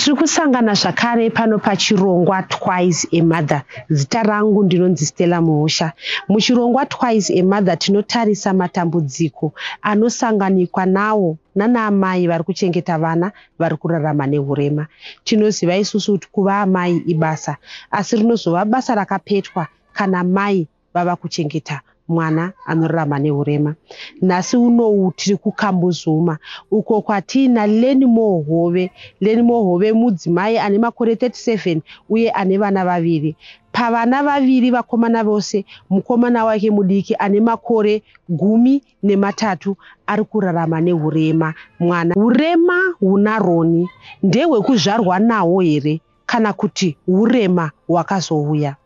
tiri kusangana zvakare pano pachirongwa twice amother zita rangu ndinonzi stella muhusha muchirongwa twice amother tinotarisa matambudziko anosanganikwa nawo nanaamai vari kuchengeta vana vari kurarama neurema tinoziva isusu kuti kuva amai ibasa asi rinozova basa rakapetwa kana mai vava kuchengeta mwana anorarama neurema nhasi unowu tiri kukambuzuma uko kwatiina lenimo hove lenimo hove mudzimai ane makore 37 uye ane vana vaviri pavana vaviri vakomana vose mukomana wake mudiki ane makore gumi nematatu ari kurarama neurema mwana urema hunaroni ndehwekuzvarwa nawo here kana kuti urema hwakazouya.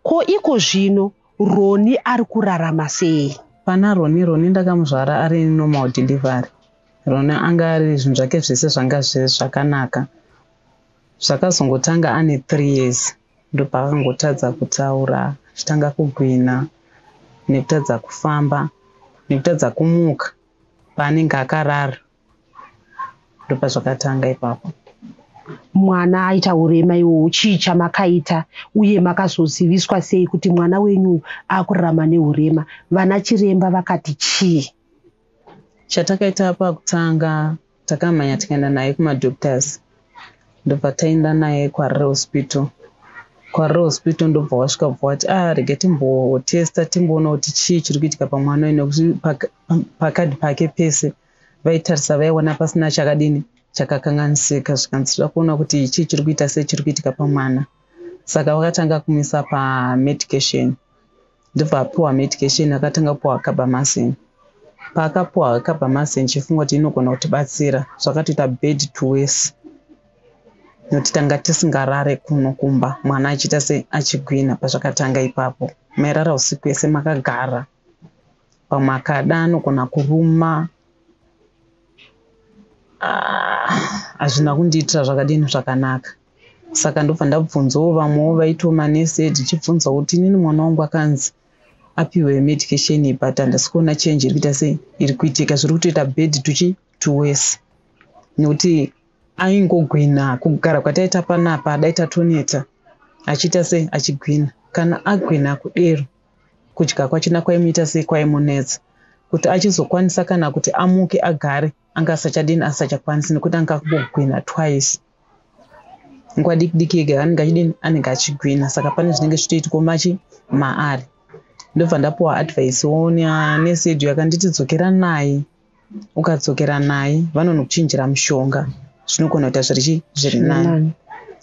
Ko iko zvino Roni ari kurarama sei? Pana Roni, Roni ndakamuzvara ari normal delivery. Roni anga ari zvinhu zvake zvese zvanga zviri zvakanaka. Zvakazongotanga ane three years ndopaakangotadza kutaura, achitanga kugwina nekutadza kufamba nekutadza kumuka paanenge akarara. ndopazvakatanga ipapo mwana aita urema iwowo chii chamakaita uye makazoziviswa sei kuti mwana wenyu akurarama neurema vana chiremba vakati chii chatakaita pakutanga takamhanya tikaenda naye kumadoctors ndobva taenda naye kwarire hospital kwarire hospital ndobva wasvika bva wati ah rege timbotesta timboona kuti chii chiri kuitika pamwana uyu nekuti pakadi pake pese pa vaitarisa vaiona pasina chakadini chakakanganisika zvikanzi zvida kuona kuti chii chiri kuita sei chiri kuitika pamwana saka vakatanga kumisa pamedication ndobva apiwa medication akatanga kupiwa carbamasin paakapiwa carbamasin chifunga kuti inogona kutibatsira zvakatoita bed to wese nokuti tanga tisingarare kuno kumba mwana achiita se achigwina pazvakatanga ipapo mairara usiku yese makagara pamwe akada anogona kuruma ah, hazvina kundiitira zvakadini zvakanaka saka ndobva ndabvunzawo vamwewo vaitawo manese tichibvunza kuti inini mwana wangu akanzi apiwe medication iyi but handisi kuona change iri kuita sei iri kuitika zviri kutoita bed tuchi tuwese nekuti aingogwina kugara kwataita panapa dai tatoneta achiita sei achigwina kana agwina kudero Kudya kwachina kwaimuita sei kwaimunetsa kuti achizokwanisa kana kuti amuke agare anga asachadini asachakwanisi nekuti anga akugwina twice nguva diki diki yega anenge achidini anenge achigwina saka pane zvinenge zvichitoitwa machi maari ndobva ndapuwa advice wonia nesedu yakanditi dzokera naye ukadzokera naye vanonokuchinjira mushonga zvinogona kuita zviri zviri nani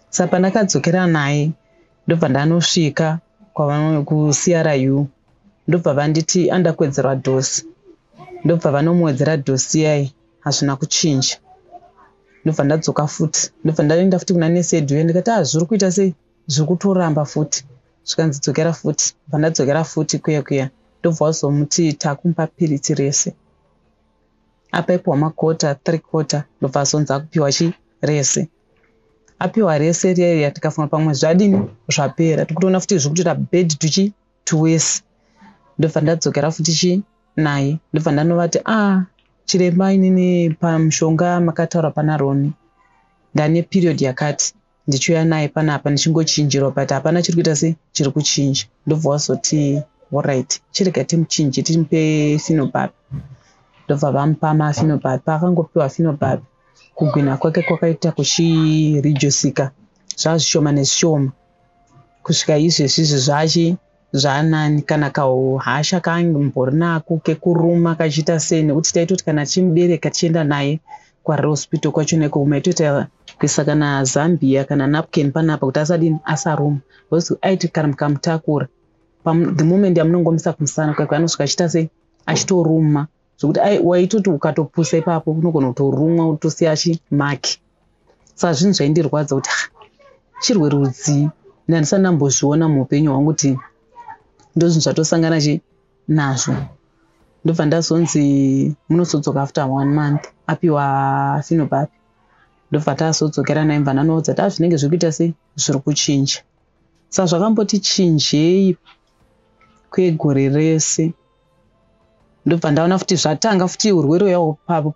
saka pandakadzokera naye ndobva ndanosvika kuCRU ndobva vanditi andakwedzerwa dosi ndobva vanomuwedzera dosi yayi hazvina kuchinja ndobva ndadzoka futi ndobva ndaenda futi kuna nesi yedu ye ndikati ah zviri kuita sei zviri kutoramba futi zvikanzi dzokera futi bva ndadzokera futi kuya kuya ndobva wazomuti takumupa piritsi rese apa ipiwa makota three quarter ndobva azonzi akupiwa chi rese apiwa rese riya tikafunga pamwe zvadini zvapera tikutoona futi zviri kutoita bed tuchi tuwesi ndobva ndadzokera futi chi naye ndobva ndanovati a ah, chiremba inini pamushonga makataura pana roni ndane period yakati ndichiuya naye panapa ndichingochinjirwa but hapana chiri kuita se chiri kuchinja ndobva wazoti orit chirega timuchinje timupe finobapi ndobva vamupa mafinobapi paakangopiwa finobapi kugwina kwake kwakaita kuchiridyusika zvazvishoma nezvishoma kusvika izvezvi izvi zvachi zvaanani kana kauhasha kaambori nako kekuruma kachiita sei nekuti taitoti kana tichimubereka tichienda naye kwarre hospital kwacho neko maitoita kuisa kana zambia kana napkin panapa kuti asadini asaruma bcause aiti kana mukamutakura the moment yamunongomisa kumusana kwake anosvika achiita sei achitoruma zvekuti waitoti ukatopusa ipapo unogona kutorumwa utosiya chimaki saka zvinhu zvaindirwadza kuti ah, chirwere rudzii ndandisati ndambozviona muupenyu hwangu kuti ndozvinhu zvatosangana chi nazvo ndobva ndazonzi munosodzoka after one month apiwa finobapi ndobva tasodzokera naye mva ndanoudza taa zvinenge zviri kuita sei zviri kuchinja sa zvakamboti chinjei kwegore rese ndobva ndaona futi zvatanga futi urwere uya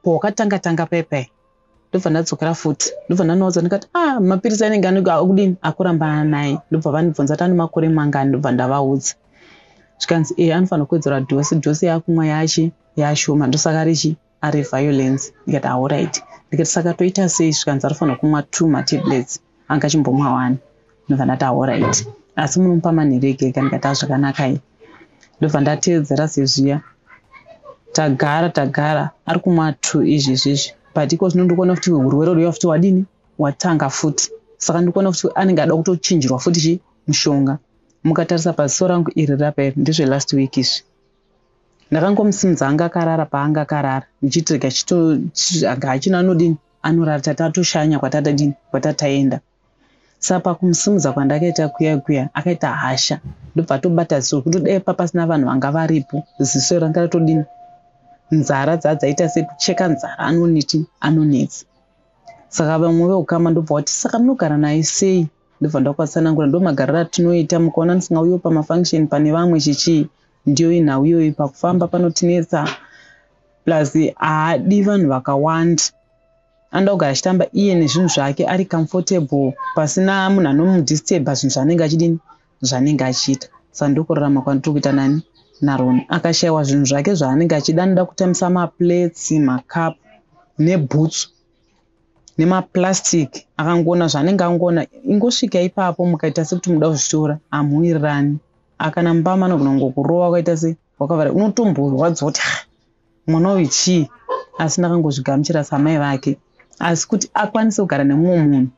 pawakatanga tanga pepe ndobva ndadzokera futi ndobva ndanoudza ndikati a ah, mapiritsi anenge anenge akudini akurambana naye ndobva vandibvunza kuti ane makore mangani ndobva ndavaudza zvikanzi e eh, anofanira kuwedzera dhosi dhosi yakumwa yachi yashoma ndosaka richi Ari violence ndikati ahoraiti ndikati saka toita sei zvikanzi arifanira kumwa two matablets anga achimbomwa one ndobva ndati ahoraiti asi munomupa manheru ega ega ndikati azvakanakai ndobva ndateedzera sezviya tagara tagara ari kumwa two izvi izvizvi but iko zvino ndikuona kuti urwere rwuya futi wadini watanga futi saka ndikuona kuti anenge ada kutochinjirwa futi chi mushonga mukatarisa paziso rangu iri rapa iri ndezvelast week izvi ndakangomusimudza anga akarara paanga akarara ndichiti rega chito anga hachina anodini anorara tata atoshanya kwatata dini kwatataenda sa pakumusimudza kwandakaita kuya kuya akaita hasha ndobva atobata ziso kuti dai papasina vanhu vanga varipo ziso ranga ratodini nzara dzadzaita sekucheka nzara anoneti anonetsa saka vamwe veukama ndobva wati saka munogara naye sei ndobva ndakatsanangura ndomagariro atinoita mukaona ndisingauyiwo pamafunction pane vamwe chichii ndiyo inhau iyoyi pakufamba panotinetsa plus haadi vanhu vakawanda anoda kugara achitamba iye nezvinhu zvake ari comfortable pasina munhu anomudisturba zvinhu zvaanenge achidini zvaanenge achiita saka ndokurarama kwandiri kuita nani naroni akashayiwa zvinhu zvake zvaanenge achida anoda kutambisa maplates macup nebhutsu nemaplastic akangoona zvaanenge angoona ingosvika ipapo mukaita sekuti muda kuzvitora hamuwirirani akana mubama anogona kungokurova ukaita se wakavara unotomborwadziwa kuti ha mwana uyu chii asi ndakangozvigamuchira samai vake asi kuti akwanise kugara nemumwe munhu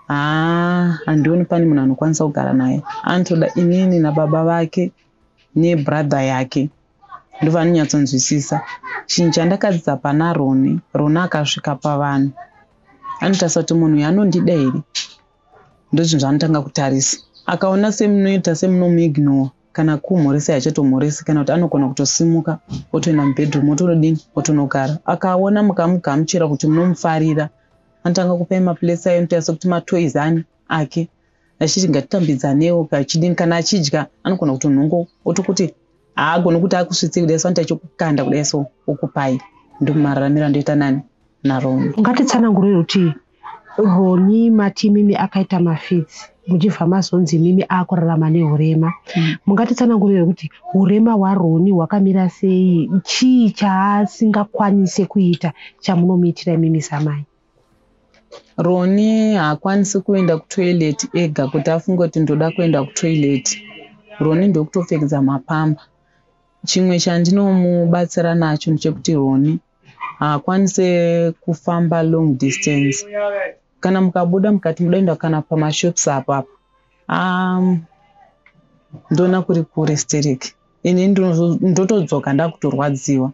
haa handioni pane munhu anokwanisa kugara naye anotoda inini nababa vake nebrother yake ndovanonyatsonzwisisa chinhu chandakadzidza pana roni roni akasvika pavanhu anotarisa kuti munhu uyu anondida here ndozvinhu zvaanotanga kutarisa akaona semunoita semunomuignore kana kumhoresa yachatomhoresi kana kuti anogona kutosimuka otoenda mubedroom otonodini otonogara akaona mukamugamuchira kuti munomufarira anotanga kupai mapulesi ayo anotaisa kuti matoys ani ake achiti ngatitambidzanewo kachidini kana achidya anogona kutonhongo otokuti haagoni kuti akusvitse kudai so anoita chokukanda kudai so okupai ndomumararamiro andoita nani naroni ungatitsanangurei kuti roni mati imimi akaita mafits muchibva mazonzi imimi akurarama neurema hmm. mungatitsanangurei kuti urema hwaroni hwakamira sei chii chaasingakwanise kuita chamunomuitira imimi samai Roni haakwanisi kuenda kutoilet ega kuti afunge kuti ndoda kuenda kutoilet. Roni ndokutopfekedza mapamba. Chimwe chandinomubatsira nacho ndechekuti Roni haakwanise kufamba long distance. Kana mukabuda mukati muda kuenda kana pamashops apo apo. Um, ndoona kuri kure sterek. Ini ndotodzoka ndakutorwadziwa.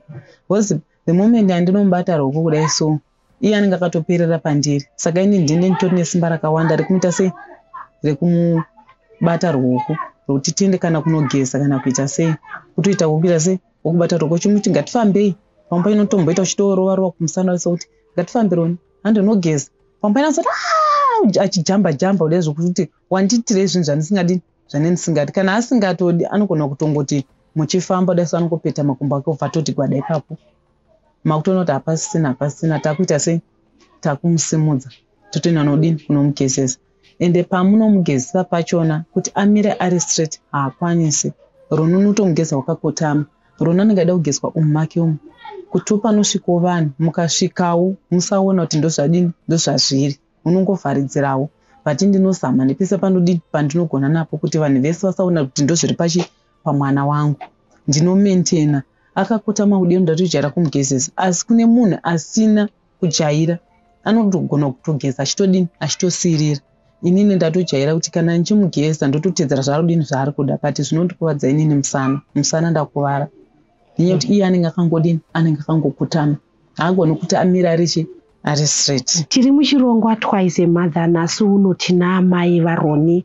Because the moment andinomubata roko kudai so iye anenge akatoperera pandiri saka ini ndine nditori nesimba rakawanda rekumuita sei rekumubata ruoko rwekuti tiende kana kunogeza kana kuita sei kutoita wokuita sei wokubata ruoko chimuti ngatifambei pamba inotomboita uchitorova rova kumusana wese kuti ngatifambironi handinogeza pamba inasoti ah! achijamba jamba uda zvekuti wandiitirei zvinhu zvandisingadi zvane ndisingadi kana asingatodi anogona kutongoti muchifamba uda so anongopeta makumbo ake obva atoti gwada ipapo makutoona kuti hapasisina hapasisina takuita sei takumusimudza totoenda nodini kunomugezesa ende pamunomugezesa pachona kuti amire ari straight haakwanisi rununu utomugeza wakakotama rona anenge aida kugezwa umu make umu kuti upanosvikawo vanhu mukasvikawo musaona kuti ndozvadini ndozvazviri unongovharidzirawo but ndinozama nepese pandodini pandinogona napo kuti vanhu vese vasaona kuti ndozviri pachi pamwana wangu ndinomentena akakotama kudii ndatojaira kumugezesa asi kune munhu asina kujaira anotogona kutogeza achitodini achitosiirira inini ndatojaira kuti kana ndichimugeza ndototedzera zvaarudini zvaari kuda but zvinondikuvadza inini musana musana ndakuvara nenyaya kuti iye anenge akangodini anenge akangokutama haagoni kuti amira arichi ari straight tiri muchirongwa twice mother nhasi uno tina amai varoni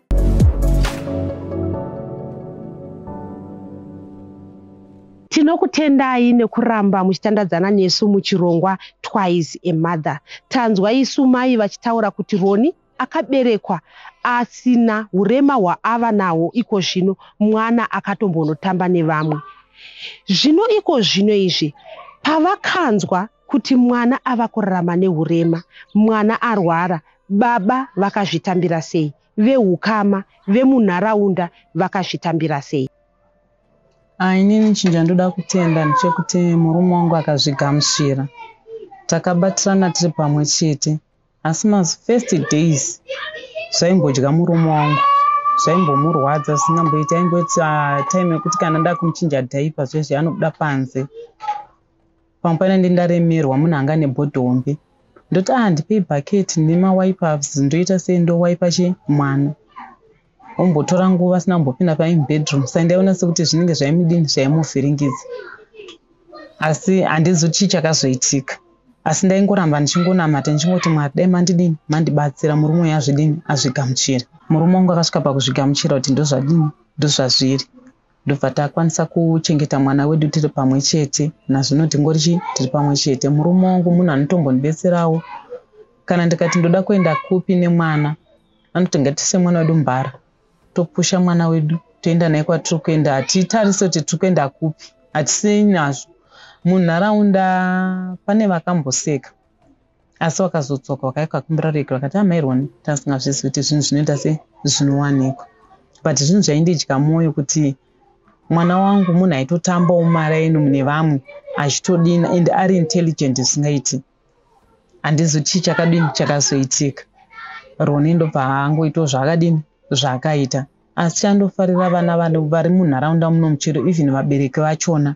tinokutendai nekuramba muchitandadzana nesu muchirongwa twice a mother tanzwa isu mai vachitaura kuti roni akaberekwa asina urema hwaava nahwo iko zvino mwana akatombonotamba nevamwe zvino iko zvino izvi pavakanzwa Kuti mwana ava kurarama nehurema, mwana arwara, baba vakazvitambira sei, vehukama, vemunharaunda vakazvitambira sei? Ah, inini chinhu chandoda kutenda ndechekuti murume wangu akazvigamuchira. Takabatirana tiri pamwe chete asi mafirst days zvaimbodya murume wangu zvaimbomurwadza zvisingamboiti aimboita time yekuti kana ndakumu chinja dhaipa zvezvi anobuda panze pamwe pane ndi ndaremerwa munhu anga ane body hombe ndoti a ah, ndipei bucket nemawipers ndoita sei ndowaipa chi mwana ombotora nguva asina kumbopinda paim bedroom sai ndaiona sekuti zvinenge zvaimudini zvaimuvhiringidza asi handizi kuti chii chakazoitika asi ndaingoramba ndichingonamata ndichingoti mwari dai mandidini mandibatsira murume uyo azvidini azvigamuchira murume wangu akasvika pakuzvigamuchira kuti ndozvadini ndozvazviri ndobva takwanisa kuchengeta mwana wedu tiri pamwe chete nazvino tingori chii tiri pamwe chete murume wangu munhu anotombondibetserawo kana ndikati ndoda kuenda kupi nemwana anoti ngatise mwana wedu mbara topusha mwana wedu toenda naye kwatiri kuenda hatitarise kuti tiri kuenda kupi hatisei nazvo munharaunda pane vakamboseka asi wakazodzoka wakauya ukakumbira rege vakati amai roni tasingazvizi kuti zvinhu zvinoita se zvinowanikwa but zvinhu zvaindidya mwoyo kuti mwana wangu munhu aitotambawo mari aino mune vamwe achitodina and ari intelligent zvisingaiti handizi chii chakadini chakazoitika roni ndobva angoitawo zvaakadini zvaakaita asi chandofarira vana vanhu vari munharaunda muno muchero even vabereki vachona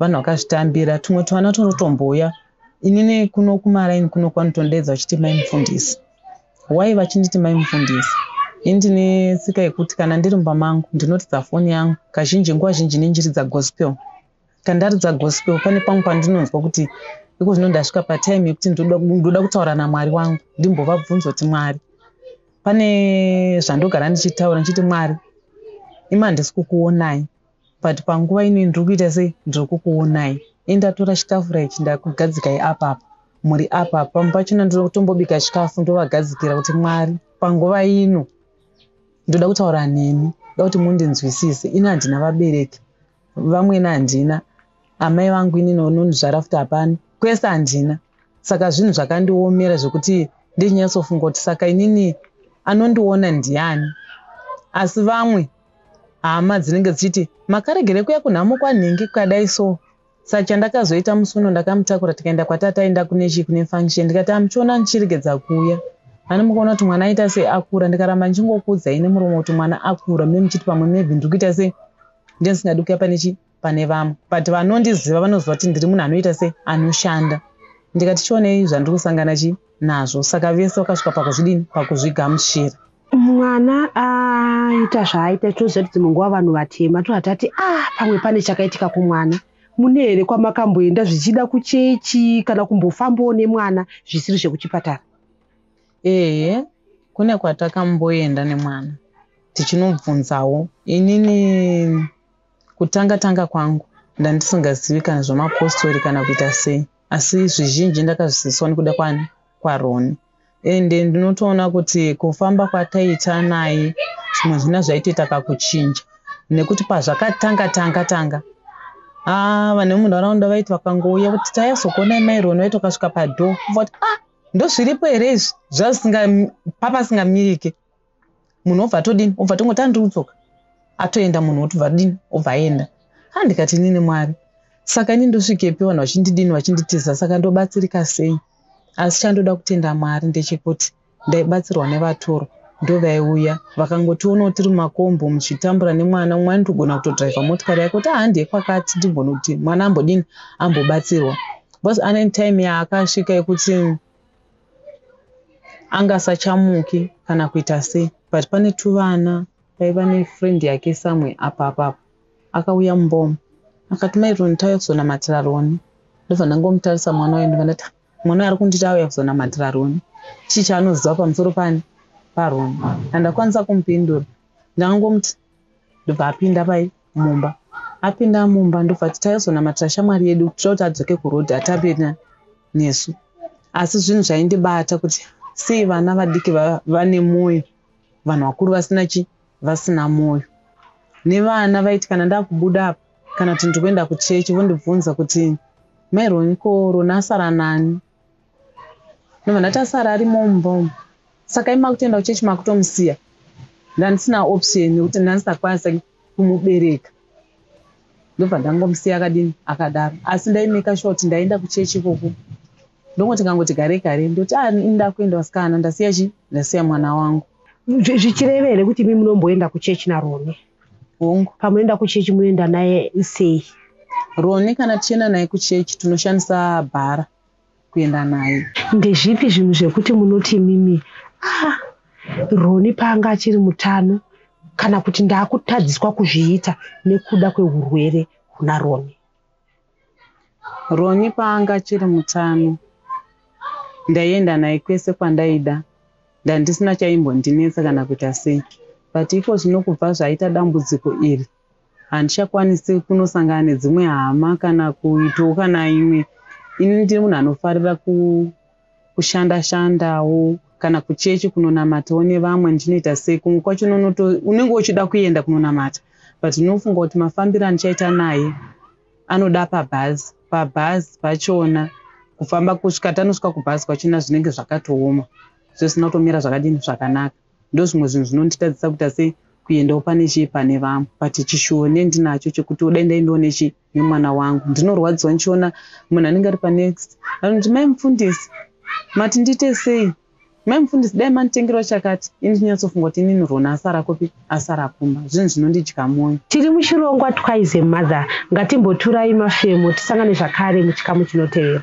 vanhu vakazvitambira tumwe tuvana tunotombouya inini kuno kumaraini kuno kwanotondedza vachiti mai mufundisi wai vachinditi mai mufundisi ini ndine tsika yekuti kana ndiri mumba mangu ndinoridza foni yangu kazhinji nguva zhinji nenjiridza gospel kandaridza gospel pane pamwe pandinonzwa kuti iko zvino ndasvika patime yekuti ndoda kutaura namwari wangu ndimbovabvunza kuti mwari pane zvandogara ndichitaura ndichiti mwari ima handisi kukuonai but panguva ino ndiri kuita sei ndiri kukuonai enda tora chitafura ichi ndakugadzikai apapa muri apapa pamwe pachona ndiri kutombobika chikafu ndovagadzikira kuti mwari panguva ino ndoda kutaura nemi ndoda kuti mundinzwisise ini handina vabereki vamwene handina amai vangu inini unonizvara futi hapana kwese handina saka zvinhu zvakandiomera zvekuti ndichinyatsofunga kuti saka inini anondiona ndiani asi vamwe hama dzinenge dzichiti makaregere kuya kunhamo kwanhingi kukadai so sa chandakazoita musi uno ndakamutakura tikaenda kwatata aenda kune chii kune function ndikati amuchiona ndichiregedza kuuya ani mukuona kuti mwana aita sei akura ndikaramba ndichingokuudzai nemuromo kuti mwana akura me muchiti pamwe maybe ndiri kuita sei ndendisingadi kuya pane chii pane vamwe but vanondiziva vanoziva kuti ndiri munhu anoita se anoshanda ndikati chionei zvandiri kusangana chi nazvo saka vese vakasvika pakuzvidini pakuzvigamuchira mwana aita zvaaita tinoziva kuti dzimwe nguva vanhu vatema tohatati a ah, pamwe pane chakaitika kumwana mune here kwamakamboenda zvichida kuchechi kana kumbofambawo nemwana zvisiri zvekuchipatara ehe kune kwatakamboenda nemwana tichinobvunzawo inini Kutanga tanga kwangu, ndandisingazivi kana zvamapostori kana kuita sei, asi zvizhinji ndakazviziviswa nekuda kwani kwaRoni and ndinotoona kuti kufamba kwataita naye zvimwe zvina zvaitoita kakuchinja nekuti pazvakatanga tanga tanga ah, vanhu vemunharaunda vaiti vakangouya kuti tayazokuonai mai Roni vaiti vakasvika padhoo kuti ah, ndozviripo here izvi zvasinga papasingamirike munhu obva atodini obva tongoti andiri kudzoka atoenda munhu otobva adini obva aenda ha ndikati ini nemwari saka ini ndosvikepi vanhu vachindidini vachinditiza saka ndobatsirika sei asi chandoda kutenda mwari ndechekuti ndaibatsirwa nevatoro ndovaiuya vakangotionawo tiri mumakombo muchitambura nemwana umwe anitogona kutodhraivha motikari yake kuti ahandi yekwakati ndigona kuti mwana ambodini ambobatsirwa bcause ane time yaakasvika yekuti anga asachamuki kana kuita sei but pane tuvana paiva nefriend yake samwe apa apapa akauya mumbomo akati mai roni tauya kuzonamatira roni ndobva ndangomutarisa mwana wayo ndobva ndati mwana ari kunditi auya kuzonamatira roni chii chaanoziva pamusoro pani paroni andakwanisa kumupindura ndangomuti ndobva apinda paipa mumba apinda mumba ndobva ati taizonamatira shamwari yedu kuitira kuti adzoke kuroad atambe nesu asi zvinhu zvaindibata kuti sei vana vadiki vane mwoyo vanhu vakuru vasina chi vasina mwoyo nevana vaiti kana ndakubuda apa kana kuti ndikuenda kuchechi vondibvunza kuti mai roni ko roni asara nani Munhu atasara ari mumba umu. Saka imakutoenda kuchechi makutomusiya. Ndandisina option nekuti ndandisakwanisa kumubereka. Ndobva ndangomusiya akadini akadaro. Asi ndaimeka sure kuti ndaenda kuchechi ikoko. Ndongoti kangoti gare gare ndoti ah ini ndakuenda vasikana ndasiya chi ndasiya mwana wangu. Zvichirevere kuti imi munomboenda kuchechi naRoni. hongu pamunoenda kuchechi munoenda naye sei roni kana tichienda naye kuchechi tinoshandisa bhara kuenda naye ndezvipi zvinhu zvekuti munoti mimi ah, roni paanga achiri mutano kana kuti ndaakutadziswa kuzviita nekuda kwehurwere huna roni Ronnie paanga achiri mutano ndaienda naye kwese kwandaida ndandisina chaimbondinetsa kana kuita sei but iko zvino kubva zvaita dambudziko iri handichakwanisi kunosangana nedzimwe hama kana kuitawo kana imwe ini ndiri munhu anofarira ku kushanda shandawo kana kuchechi kunonamatawo nevamwe ndinoita sei kumwe kwacho unonoto unenge uchida kuenda kunonamata but unofunga kuti mafambiro andichaita naye anoda pabhazi pabhazi pachona kufamba kusvika tanosvika kubhazi kwachona zvinenge zvakatooma zvisina kutomira zvakadini zvakanaka ndozvimwe zvinhu zvinonditadzisa kuita se kuendawo pane chii pane vamwe but chishuwo nendinacho chekuti odai ndaendawo nechi nemwana wangu ndinorwadziwa ndichiona munhu anenge ari panext anoti mai mufundisi mati ndiite sei mai mufundisi dai manditengerawo chakati ini ndinyatsofunga kuti inini rona asara kupi asara kumba zvinhu zvinondidya mwoyo tiri muchirongwa twise mother ngatimboturai mafemo tisangane zvakare muchikamu chinotevera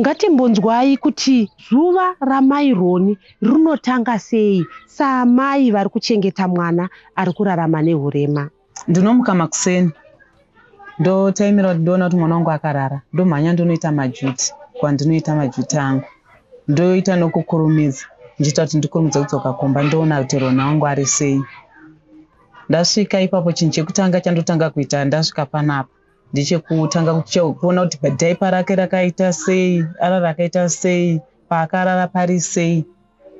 Ngatimbonzwai kuti zuva ramai Roni rinotanga sei saamai vari kuchengeta mwana ari kurarama nehurema. Ndinomuka makuseni ndotaimira kuti ndoona kuti mwana wangu akarara ndomhanya ndonoita majuti kwandinoita majuti angu ndoita nokukurumidza ndichiita kuti ndikurumidze kudzoka kumba ndoona kuti Roni wangu ari sei. Ndasvika ipapo chinhu chekutanga chandotanga kuita ndasvika panapa ndechekutanga kuona kuti dhaipa rake rakaita sei ara rakaita sei paakarara pari sei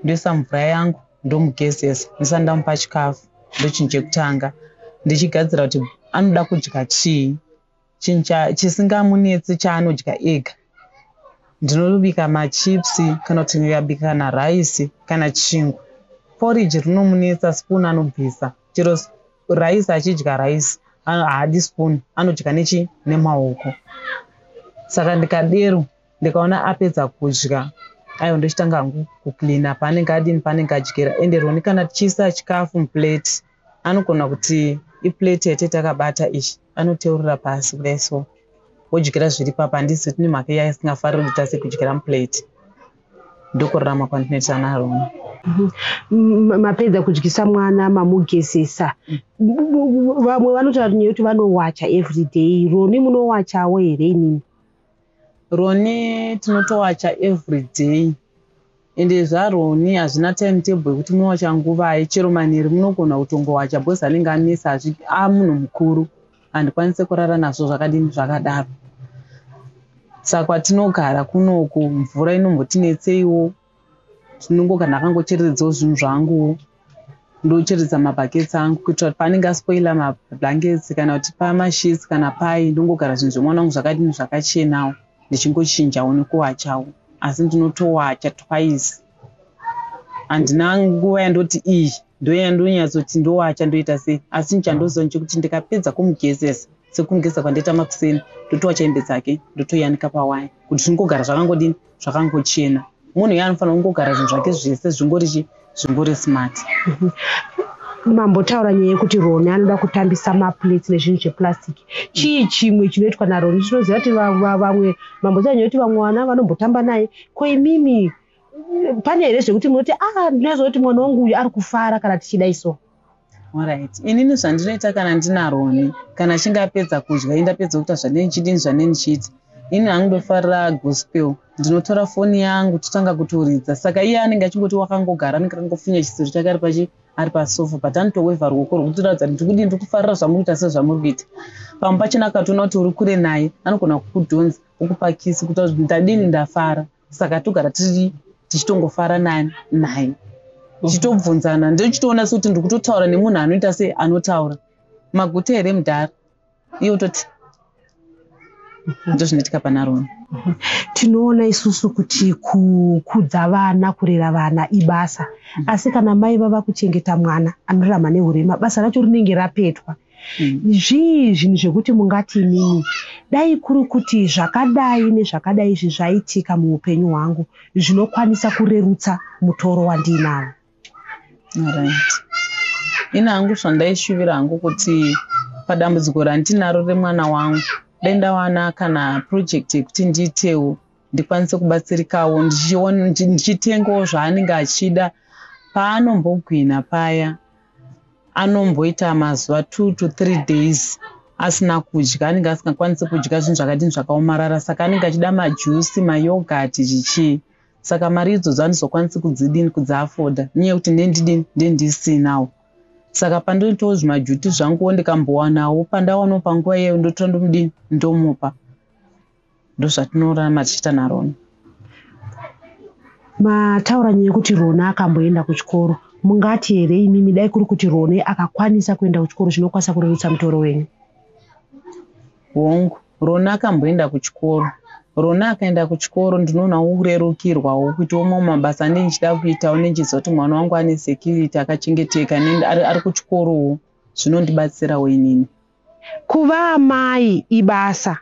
ndoisa mvura yangu ndomugezesa ndisati ndamupa chikafu ndochinhu chekutanga ndichigadzira kuti anoda kudya chii chinhu chisingamunetsi chaanodya ega ndinobika machips kana kuti ndikabika kana raisi kana chingwa poriji rinomunetsa spoon anobvisa chero rice achidya rice haadi spoon anodya nechi nemaoko saka ndikadero ndikaona apedza kudya ayo ndochitanga hangu kucleana paanenge adini paanenge adyira ende roni kana tichiisa chikafu muplate anogona kuti iplate yate takabata ichi anoteurira pasi kudai so wodyira zviri papa handisi kuti nemhaka iya isingafariri kuti tase kudyira muplate ndokurarama kwandinoita naRona. Mm-hmm. Mapedza kudyisa mwana mamugezesa, vamwe vanotaura nyaya yekuti vanowacha every day. Roni munowachawo here inini? Roni tinotowacha every day ende zvaroni hazvina time table yekuti munowacha nguvai chero manheru munogona kutongowacha bcause anenge anesa amunhu mukuru handikwanise kurara nazvo zvakadini zvakadaro saka kwatinogara kunoku mvura inombotinetseiwo tinongo kana akangochereredzawo zvinhu zvanguwo ndocheredza mabhaketsi angu kuitira kuti paanenge aspoila mablankets kana kuti pamashits kana pai ndongogara zvinhu zvemwana wangu zvakadini zvakachenawo ndichingochinjawo nekuwachawo asi ndinotowacha twice handina nguva yandoti iyi Ndoyandonyatsoti ndowacha ndoita sei asi nchandoziva nchekuti ndikapedza kumugezesa sekumugeza kwandaita makuseni ndotowacha hembe dzake ndotoyanika pawaya kuti zvingogara zvakangodini zvakangochena munhu iye anofanira kungogara zvinhu zvake zvese zvingori chi zvingori smart mambotaura nyaya yekuti roni anoda kutambisa maplates nezvinhu zveplastic chii chimwe chinoitwa naroni tinoziva kuti vamwe mambotaura nyaya yekuti vamwe vana vanombotamba naye ko imimi pane here zvekuti munoti a ah, ndinozoti mwana wangu uyu ari kufara kana tichidai so orit inini zvandinoita kana ndinaroni kana achinge apedza kudya i ndapedza kuita zvanei ndichidini zvanei ndichiita ini hangu ndofarira gospel ndinotora foni yangu totanga kutoridza saka iye anenge achingoti wakangogara anenge akangofunya chisiro chake ari pachi ari pasofa but anotowevha ruoko rwekutiratidza kuti ndikudii ndiri kufarira zvamuri kuita sezvamuri kuita pamwe pachina akatoona kuti uri kure naye anogona kukudhonza ukupakisi kuta kuti ndadini ndafara saka togara tiri tichitongofara nani naye tichitobvunzana ndochitoona sekuti ndiri kutotaura nemunhu anoita se anotaura maguta here mudhara iye utoti ndozvinoitika panarona tinoona isusu kuti kukudza vana kurera vana ibasa asi kana mai vava kuchengeta mwana anorarama nehurema basa racho rinenge rapetwa zvii zvinhu zvekuti mungati imimi dai kuri kuti zvakadai nezvakadai izvi zvaitika muupenyu hwangu zvinokwanisa kurerutsa mutoro wandiinawo right. ini hangu zvandaishuvira hangu kuti padambudziko randinaro remwana wangu dai ndawana kana project yekuti ndiitewo ndikwanise kubatsirikawo ndichitengawo zvaanenge achida paanombogwina paya anomboita mazuva two to three days asina kudya anenge asingakwanisi kudya zvinhu zvakadini zvakaomarara saka anenge achida majusi mayogati chichii saka mari idzodzo andizokwanisi kudzidini kudziafoda nyaya yekuti ndendidini ndendisinawo saka pandinoitawo zvimajuti zvanguwo ndikambowanawo pandawanawo panguva iyeyo ndotora ndomudini ndomupa ndozvatinorama tichiita narona mataura nyaya yekuti rona akamboenda kuchikoro mungati here imimi dai kuri kuti rone akakwanisa kuenda kuchikoro chinokwanisa kurerutsa mutoro wenyu hongu rona akamboenda kuchikoro rona akaenda kuchikoro ndinoona urerukirwawo kuitawo mamwe mabasa ane ndichida kuitawo nendichiziva kuti mwana wangu ane security akachengeteka ari kuchikorowo zvinondibatsirawo inini Kuva amai ibasa.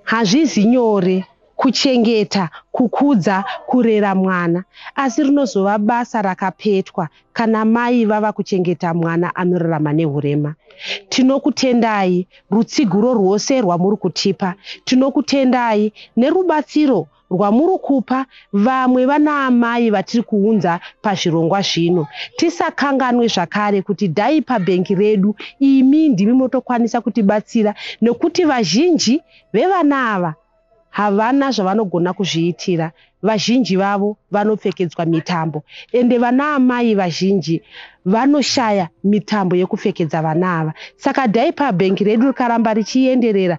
Hazvizi nyore kuchengeta, kukudza, kurera mwana asi rinozova basa rakapetwa kana mai vava kuchengeta mwana anorarama nehurema. Tinokutendai rutsigiro rwose rwamuri kutipa. Tinokutendai nerubatsiro rwamuri kupa vamwe vanaamai vatiri kuunza pazvirongwa zvino. Tisakanganwe zvakare kuti dai pabhengi redu imi ndimi motokwanisa kutibatsira nekuti vazhinji vevana ava havana zvavanogona kuzviitira. Vazhinji vavo vanopfekedzwa mitambo ende vanaamai vazhinji vanoshaya mitambo yekupfekedza vana ava. Saka dai pabhengi redu rikaramba richienderera